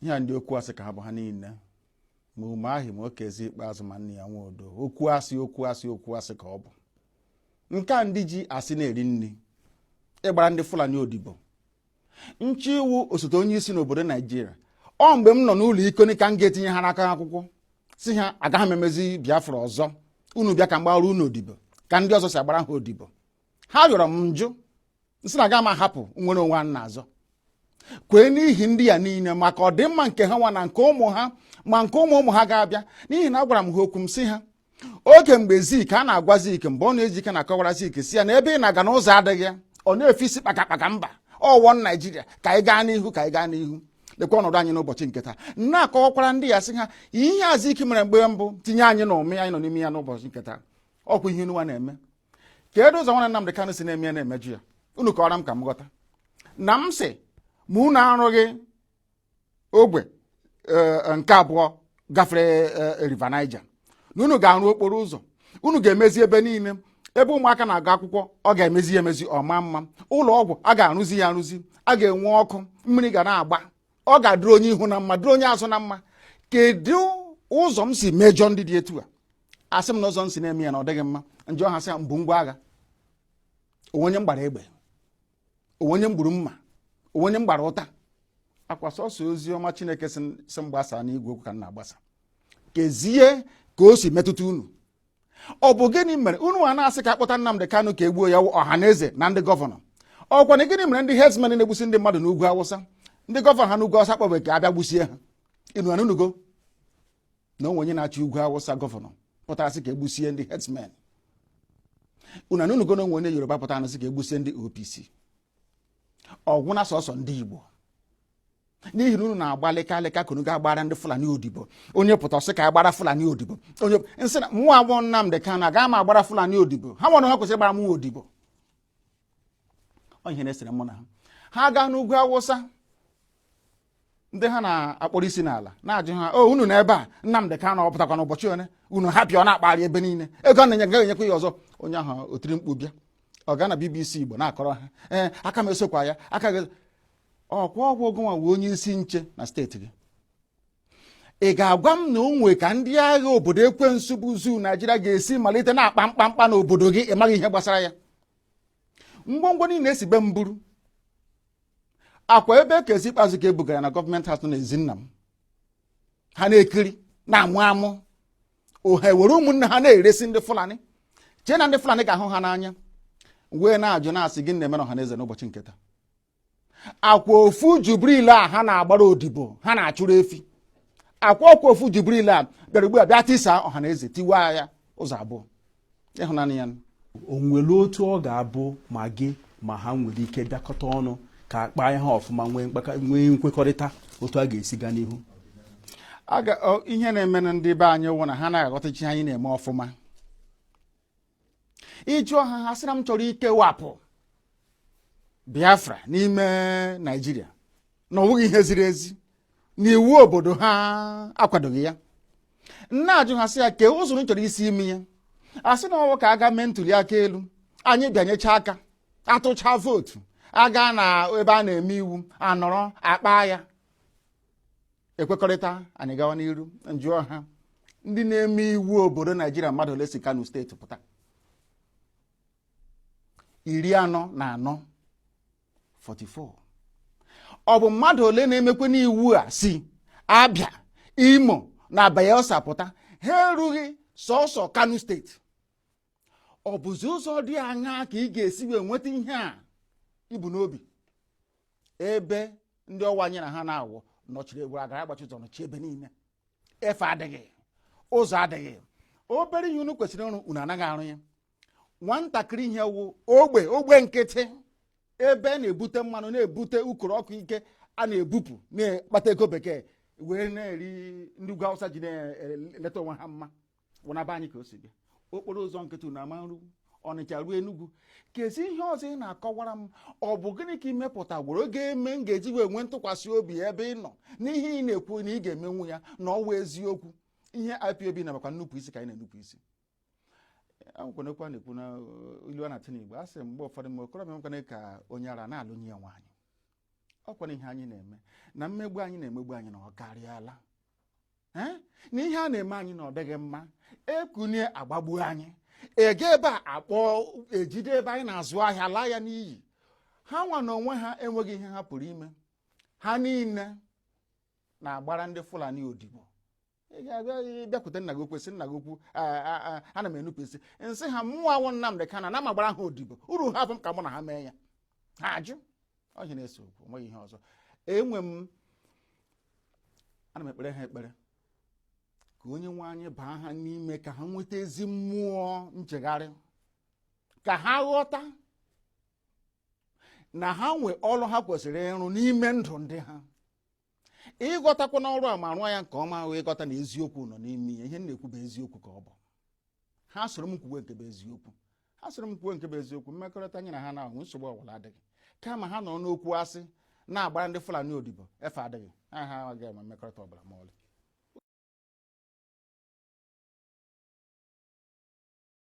ihe a ndị okwu asị ka ha bụ ha niile ma Umahi ma Okezie Ikpeazụ ma Nnia Nwodo okwu asị okwu asị okwu asị ka ọ bụ nke a ndị ji asị na-eri nri ịgbara ndị fulani odibo na-achọ ịwụ osote onye isi n'obodo naijiria ọ mgbe m nọ n'ụlọ ikoni ka m ga-etinyere ha aka akwụkwọ sị ha agaghị m emezi biafra ọzọ unu bịa ka m gbara unu odibo ka ndị ọzọ si agbara ha odibo ha yọrọ m m jụ m sị na agaghị m ahapụ nnwere onwe a na-azọ kwee n'ihi ndị ya niile maka ọdịmma nke ha nwa na nke ụmụ ha ma nke ụmụ ụmụ ha ga-abịa n'ihi na agwara m ha okwu m sị ha oge mgbe zik a na-agwa zik Mbonu Ojike na-akọwara zik sị ya na ebe ị na-aga na ụzọ adịghị ya ọ na-efe isi kpakakpaka mba ọ one naijiria ka anyị gaa n'ihu ka anyị gaa n'ihu lekwa ọnọdụ anyị n'ụbọchị nke taa na-akọwakwara ndị ya sị ha ihe a zik mere mgbe mbụ tinye anyị n'umi anyị nọ n'ime ya n'ụbọchị nke taa ọ kwa ihe unuwa na-eme kedu ụzọ nwana Nnamdị Kanụ si na-eme ya na-emejọ ya unu kọọrọ m ka m ghọta na m sị ma unu arụghị ogwe nke abụọ gafere e, river Niger na unu ga-arụ okporo ụzọ unu ga-emezi ebe niile ebe ụmụaka na-agụ akwụkwọ ọ ga-emezi ya emezi ọ maa mma ụlọ ọgwụ a ga-arụzi ya arụzi a ga-enwe ọkụ mmiri ga na-agba ọ ga-adịrị onye ihu na mma dịrị onye azụ na mma kedu ụzọ m si mejọ ndị dị etu a asị m na ụzọ m si na-eme ya na ọ dịghị mma m jụọ ha sị ha m bu ngwa agha o nwere onye m gbara egbe o nwere onye m gburu mma o nwere onye m gbara ụta ọ kwa sọsọ ozi ọma chineke sị m gbasa n'igwe okwu ka m na-agbasa kezie ka o si metụta unu ọ bụ gịnị mere unu a na-asị ka akpọta Nnamdị Kanụ ka egbuo ya ọha na eze na ndị gọvanọ ọ kwanụ gịnị mere ndị herdsmen na-egbusi ndị mmadụ n'ugwu awụsa ndị gọvanọ ha n'ugwu awụsa akpọbeghị ka abịa gbusie ha unu anụnugo na o nwe onye na-achị ugwu awụsa gọvanọ pụtara sị ka egbusie ndị herdsmen unu anụnugo na o nwe onye yoruba pụtara sị ka egbusie ndị opc ọ gwụna sọsọ ndị Igbo n'ihi na unu na-agba lịka lịka ka unu ga-agbara ndị Fulani odibo onye pụta ọ sị ka agbara Fulani odibo onye m sị na mụwa bụ Nnamdị Kanu agaghị m agbara Fulani odibo ha nwa onwe ha kwesịrị ịgbara mụwa odibo ọ ihe na-esere mụ na ha ha gaa n'ugwu Awụsa ndị ha na-akpọrọ isi n'ala na-ajụ ha o oh, unu nọ ebe a Nnamdị Kanụ ọ pụtakwa n'ụbọchị one unu hapụ ya ọ na-akpagharị ebe niile ego a na-enye gaghị enyekwa ya ọzọ onye ahụ o tiri mkpu bịa ọ gaa na BBC Igbo na-akọrọ ha ee eh, aka m esokwa ya aka gị ọ kwa ọ wụ gịnwa wụ onye isi nche na steeti gị ị ga-agwa m na o nwe ka ndị agha obodo ekwensu bụ zoo Naijiria ga-esi malite na-akpa mkpamkpa n'obodo gị ị maghị ihe gbasara ya ngwongwo niile e si be m buru ọ kwa ebe Okezie Ikpeazụ ka e bugara na gọọmenti house n'ezi nna m ha na-ekiri na-amụ amụ ha ewere ụmụnne ha na-eresi ndị fulani chee na ndị fulani ga-ahụ ha n'anya wee na-ajụ na-asị gịnị na-eme n'ọha na eze n'ụbọchị nketa akwa ofu jubril a ha na-agbara odibo ha na-achụrụ efi akwa ọkwa ofu jubril a bịara ugbu a bịa tisa ọha na eze tiwa ya ụzọ abụọ ị hụnanụ ya o nwere otu ọ ga-abụ ma gị ma ha nwere ike bịakọta ọnụ ka a kpaa ihe a ọfụma nwee nkwekọrịta otu a ga-esi gaa n'ihu ihe na-emenụ ndị be anyị wụ na ha anaghị aghọtacha ihe anyị na-eme ọfụma ị jụọ ha ha sị na m chọrọ ikewapụ Biafra n'ime Naịjirịa na ọ wụghị ihe ziri ezi na iwu obodo ha akwadoghị ya m na-ajụ ha sị ya kee usoro m chọrọ isi ime ya a sị na ọ wụ ka a gaa mee ntuli aka elu anyị bịanyecha aka a tụchaa vootu a gaa n'ebe a na-eme iwu a nọrọ akpa ya e kwekọrịta anyị gawa n'iru m jụọ ha ndị na-eme iwu obodo naijiria mmadụ ole si kano steeti pụta iri anọ na anọ 44 ọ bụ mmadụ ole na-emekwanụ iwu a si abịa imo na bayelsa pụta ha erughị sọsọ kano steeti ọ bụzi ụzọ dị aṅaa ka ị ga-esi wee nweta ihe a i bu n'obi ebe ndị ọ wụ anyị na ha na-awụ nọchiri egwuru agara agbachi ụzọ nọchi ebe niile efe adịghị ụzọ adịghị obere ihe unu kwesịrị ịrụ unu anaghị arụ ya nwatakịrị ihe wụ ogbe ogbe nkịtị ebe a na-ebute mmanụ na-ebute ukoro ọkụ nke a na-ebupụ na-akpata ego bekee wee na-eri ndị ugwu awụsa ji na-eleta onwe ha mma wụ na be anyị ka o si bịa okporo ụzọ nkịtị unu ama nrụ ọnịcha ruo enugwu keezi ihe ọzọ ị na-akọwara m ọ bụ gịnị ka i mepụtagworo ga-eme m ga-eji wee nwee ntụkwasị obi ebe ị nọ n'ihe ị na-ekwu na ị ga-emenwu ya na ọ wụ eziokwu ihe IPOB na makwa nnupụ isi ka anyị na-enupụ isi akwụkwọ na-ekwu na uh, ilu a na-atụ n'igbo a sị mgbe ụfọdụ mgbe okorobịa nwekwana ka onye ara na-alụnye ya nwaanyị ọ kwa na ihe anyị na-eme na mmegbu anyị na-emegbu anyị na ọ karịala na ihe a na-eme anyị na ọ dịghị mma e kunie a gbagbuo anyị ege ebe a akpọ ejide ebe anyị na-azụ ahịa a laa ya n'iyi ha nwa n'onwe ha enweghị ihe ha pụrụ ime ha niile na-agbara ndị Fulani odibo ị ga-abịa bịakwute nna gị okwu sị nna gị okwu ana m enupụ isi m sị ha mụnwa wụ Nnamdị Kanu na m agbara ha odibo uru ha afọ m ka mụ na ha mee ya ha ajụ ọ ihe a na-ese okwu nweghị ihe ọzọ enwe m ana m ekpere ha ekpere ka onye nwe anyị baa ha n'ime ka ha nweta ezi mmụọ nchegharị ka ha ghọta na ha nwe ọrụ ha kwesịrị ịrụ n'ime ndụ ndị ha ị ghọtakwanụ ọrụ a ma rụọ ya nke ọma ahụ ịghọta na eziokwu nọ n'ime ya ihe m na-ekwu bụ eziokwu ka ọ bụ ha soro m kwuwe nke bụ eziokwu ha soro m kwuwe nke bụ eziokwu mmekọrịta anyị na ha na-ahụ nsogbu ọbụla adịghị kama ha nọ n'okwu asị na-agbara ndị Fulani odibo efe adịghị ha ha agaghị enwe mmekọrịta ọbụla ma ọlị